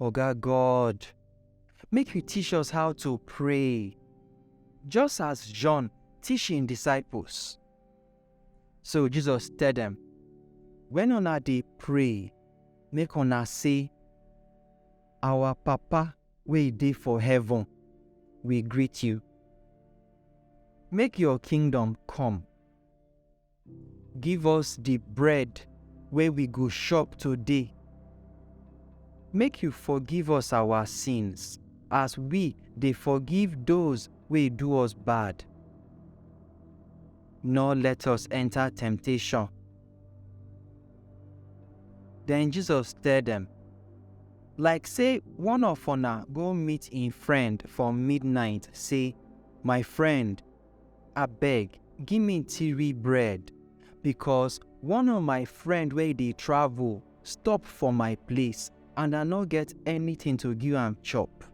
Oga God, make you teach us how to pray, just as John teach him disciples. So Jesus tell them, when una dey pray, make una say, Our Papa wey dey for heaven, we greet you. Make your kingdom come. Give us the bread wey we go chop today. Make you forgive us our sins as we dey forgive those wey do us bad. Nor let us enter temptation. Then Jesus tell them, Like say one of una go meet im friend for midnight say, My friend, Abeg give me tiri bread because one of my friend wey dey travel stop for my place and I no get anything to give am chop.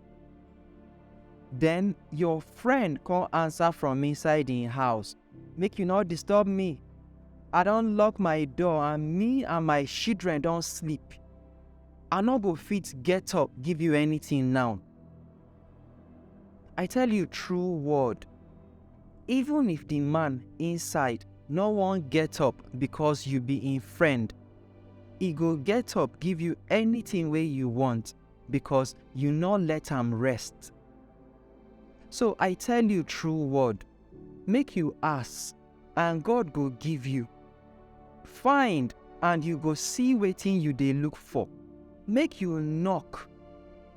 Then your friend come answer from inside im house, Make you no disturb me. I don lock my door and me and my children don sleep. I no go fit get up give you anything now. I tell you true word, even if the man inside no wan get up because you be im friend, e go get up give you anything wey you want because you no let am rest. So I tell you true word, make you ask and God go give you. Find and you go see wetin you dey look for. Make you knock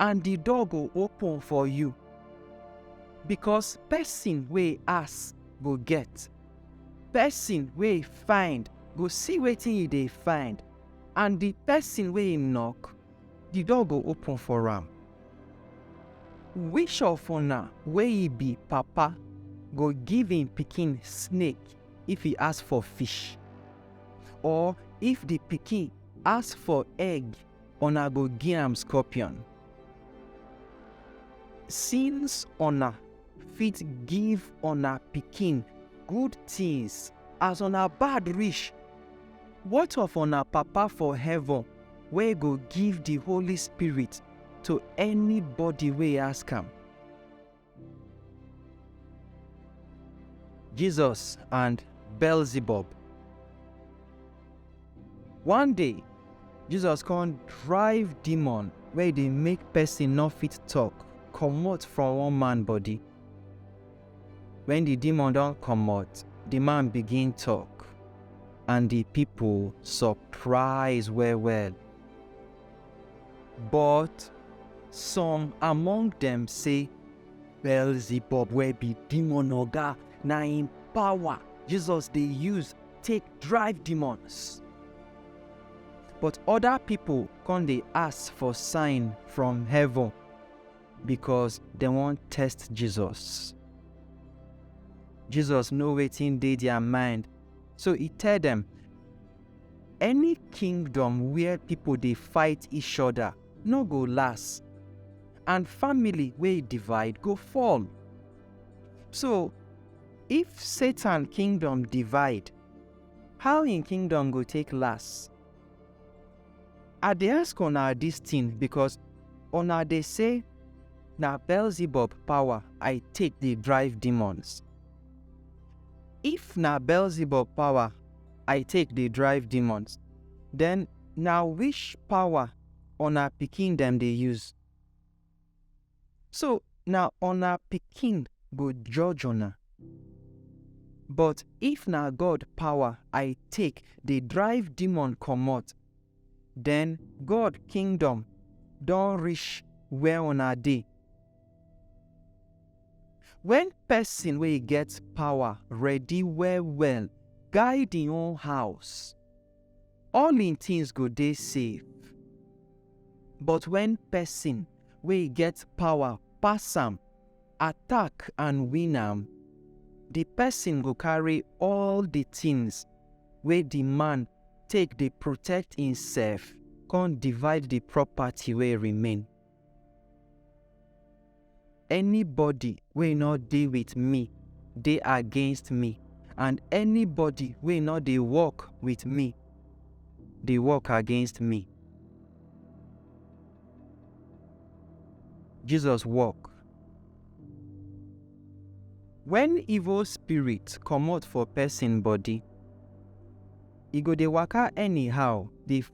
and the door go open for you. Because person wey ask go get, person wey find go see wetin e dey find, and the person wey knock Di door go open for am. Which of una wey e be papa go give im pikin snake if e ask for fish? Or if di pikin ask for egg, una go gi am scorpion? Since una fit give una pikin good tins as una bad rish, what of una Papa for heaven wey go give di Holy Spirit to anybody wey ask am. Jesus and Beelzebub. One day, Jesus come drive demon wey dey make person no fit talk comot from one man body. Wen di demon don komot, di man begin tok, and di pipo sopraiz well-well. Bot som among dem sey, Beelzebub wey bi demon oga, na en pawa Jesus dey use take drive demons. Bot oda pipo kon dey ask for sign from heaven, because dem wan test Jesus. Jesus know wetin dey their mind, so e tell dem, Any kingdom where people dey fight each other no go last, and family wey divide go fall. So, if Satan kingdom divide, how im kingdom go take last? I dey ask una dis tin becos una dey sey na Beelzebub pawa I take dey drive demons. If na Beelzebub pawa I take dey drive demons, den na which pawa una pikin dem dey use? So na una pikin go judge una. But if na God power I take dey drive demon comot, den God kingdom don reach where una dey. Wen pesin wey get power ready well-well guide im own house, all im things go dey safe. But when person wey get power pass am, attack and win am, the person go carry all the things wey the man take dey protect imself come divide the property wey remain. Anybody wey no dey with me dey against me, and anybody wey no dey work with me dey work against me. Jesus work. When evil spirit comot for person body, e go dey waka anyhow dey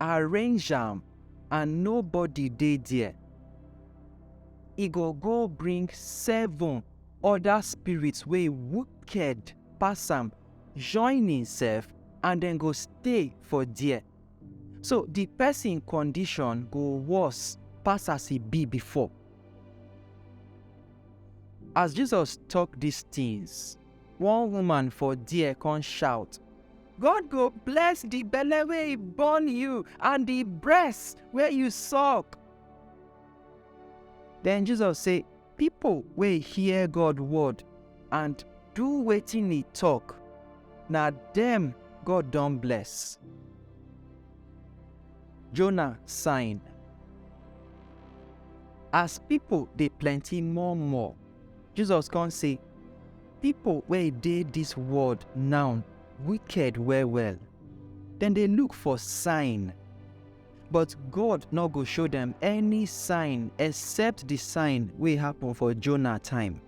arrange am and nobody dey there, e go go bring seven other spirits wey wicked pass am join himself and dem go stay for there. So the person condition go worse pass as e be before. As Jesus talk these things, One woman for there come shout, God go bless the belle wey e born you and the breast wey you suck. Then Jesus say, People wey hear God word and do wetin e talk, na dem God don bless. Jonah sign. As people dey plenty more more, Jesus kon sey, Pipol wey dey dis world nawn wiked well-well. Dem dey luk for sign, but God nor go show dem any sign except di sign wey happen for Jonah time.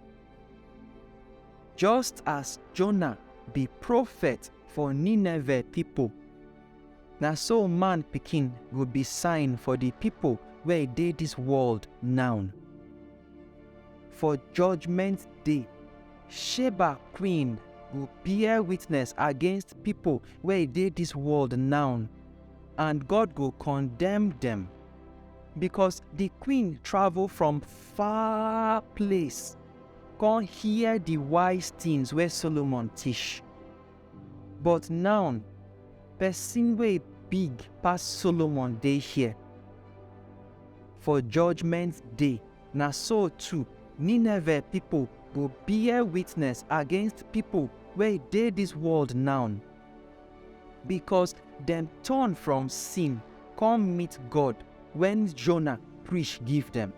Just as Jonah bi profet for Nineveh pipol, na so Man Pikin go bi sign for di pipol wey dey dis world nawn. For judgment day, Sheba queen go bear witness against pipo wey dey dis world now, and God go condemn dem, becos di queen travel from far place con hear di wise tins wey Solomon tish. But naun, pesin wey big pass Solomon dey here. For judgment day, na so too, Nineveh pipol go bear witness against pipol wey dey dis world naun, bikos dem turn from sin kom meet God wen Jonah preach give dem.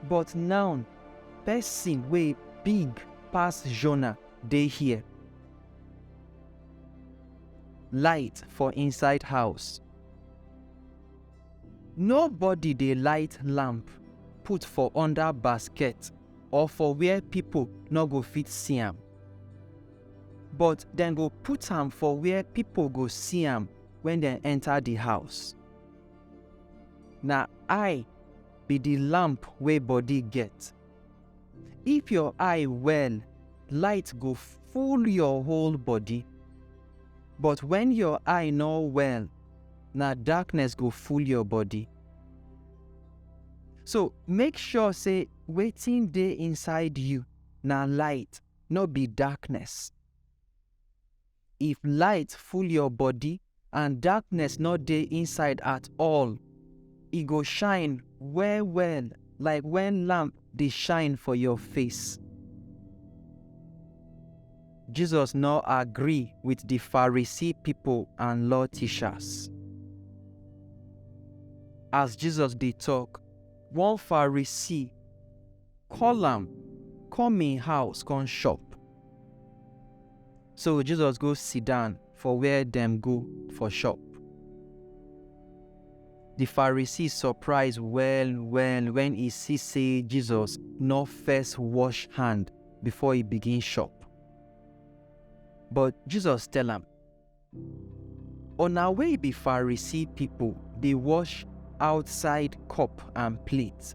But naun, pesin wey big pass Jonah dey here. Light for inside house. Nobody dey light lamp put for under basket or for where people no go fit see am. But dem go put am for where people go see am when dem enter the house. Na eye be the lamp wey body get. If your eye well, light go full your whole body. But when your eye no well, na darkness go full your body. So make sure say wetin dey inside you na light, no be darkness. If light full your body and darkness no dey inside at all, e go shine well well like when lamp dey shine for your face. Jesus no agree with the Pharisee people and law teachers. As Jesus dey talk, one Pharisee call am come im house come chop. So Jesus go sit down for where dem go for chop. The Pharisees surprise well well when he see say Jesus no first wash hand before he begin chop. But Jesus tell am, Una wey be Pharisee pipo dey wash outside cup and plate,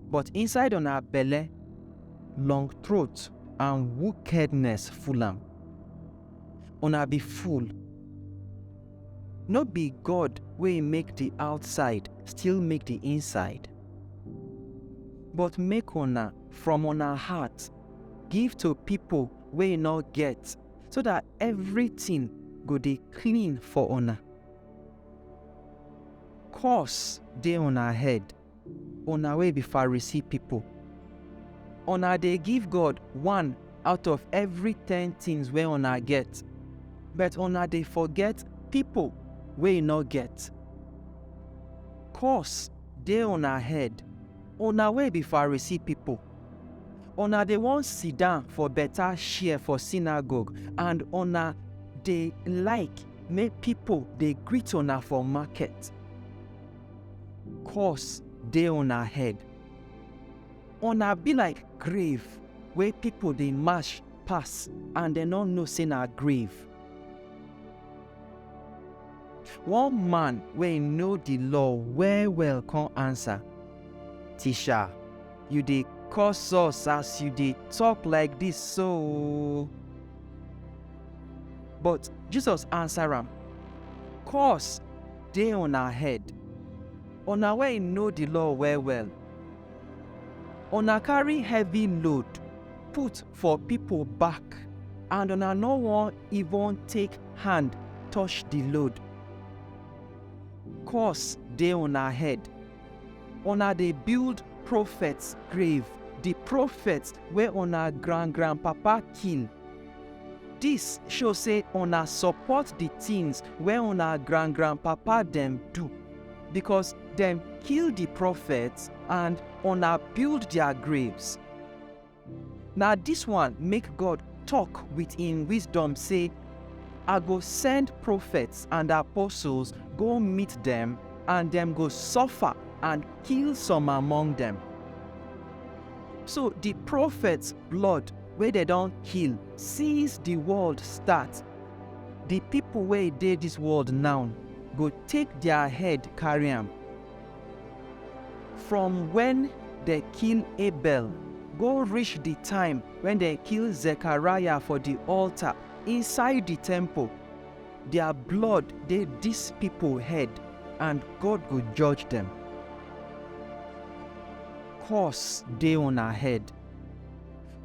but inside una belle, long throat and wickedness full am. Una be fool! No be God wey make di outside still make di inside? But make una, from una heart, give to pipo wey no get. so that everything go dey clean for una. Curse dey una head, una wey be Pharisee people. Una dey give God one out of every ten things wey una get, but una dey forget people wey e no get. Curse dey una head, una wey be Pharisee people. Una dey wan sidan for beta share for sinagogue and una dey like make pipo dey greet una for market. Curse dey una head! Una be like grave wey pipo dey match pass and dem no know sey na grave. One man wey know di Law well-well kon ansa, Tisha. you dey curse us as you dey talk like this so. But Jesus answer am, Curse dey una head, una wey know the law well well. Una carry heavy load put for people back and una no wan even take hand touch the load. Curse dey una head, Una dey build profet grave, di profet wey una grand-grandpapa kill. Dis show sey una support di tins wey una grand-grandpapa dem do, bikos dem kill di profet and una build dia graves. Na dis one make God tok wit im wisdom sey, I go send profets and apostles go meet dem and dem go suffer and kill some among dem. So di profets blood wey dem don kill since di world start, di pipo wey dey dis world now go take dia head carry am. From wen dem kill Abel go rish di time wen dem kill Zekariah for di altar inside di temple, dia blood dey dis pipo head and God go judge dem. Curse dey una head,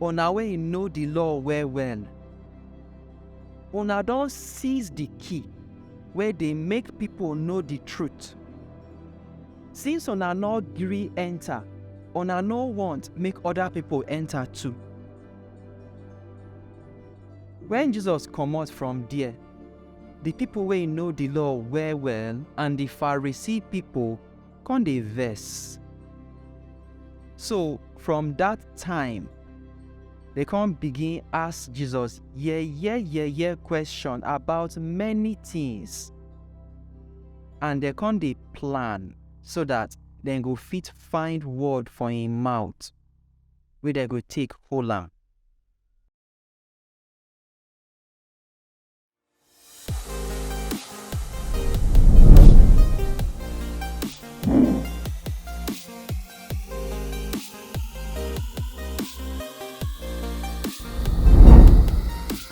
una wey know di law well-well! Una don seize di key wey dey make pipo know di truth. Since una no gree enter, una no want make other people enter too. When Jesus comot from there, the people wey know the law well well and the Pharisee people come dey vex. So from that time, they come begin ask Jesus yeah yeah yeah yeah question about many things. and dem come dey plan so that dem go fit find word for im mouth wey dem go take hold am.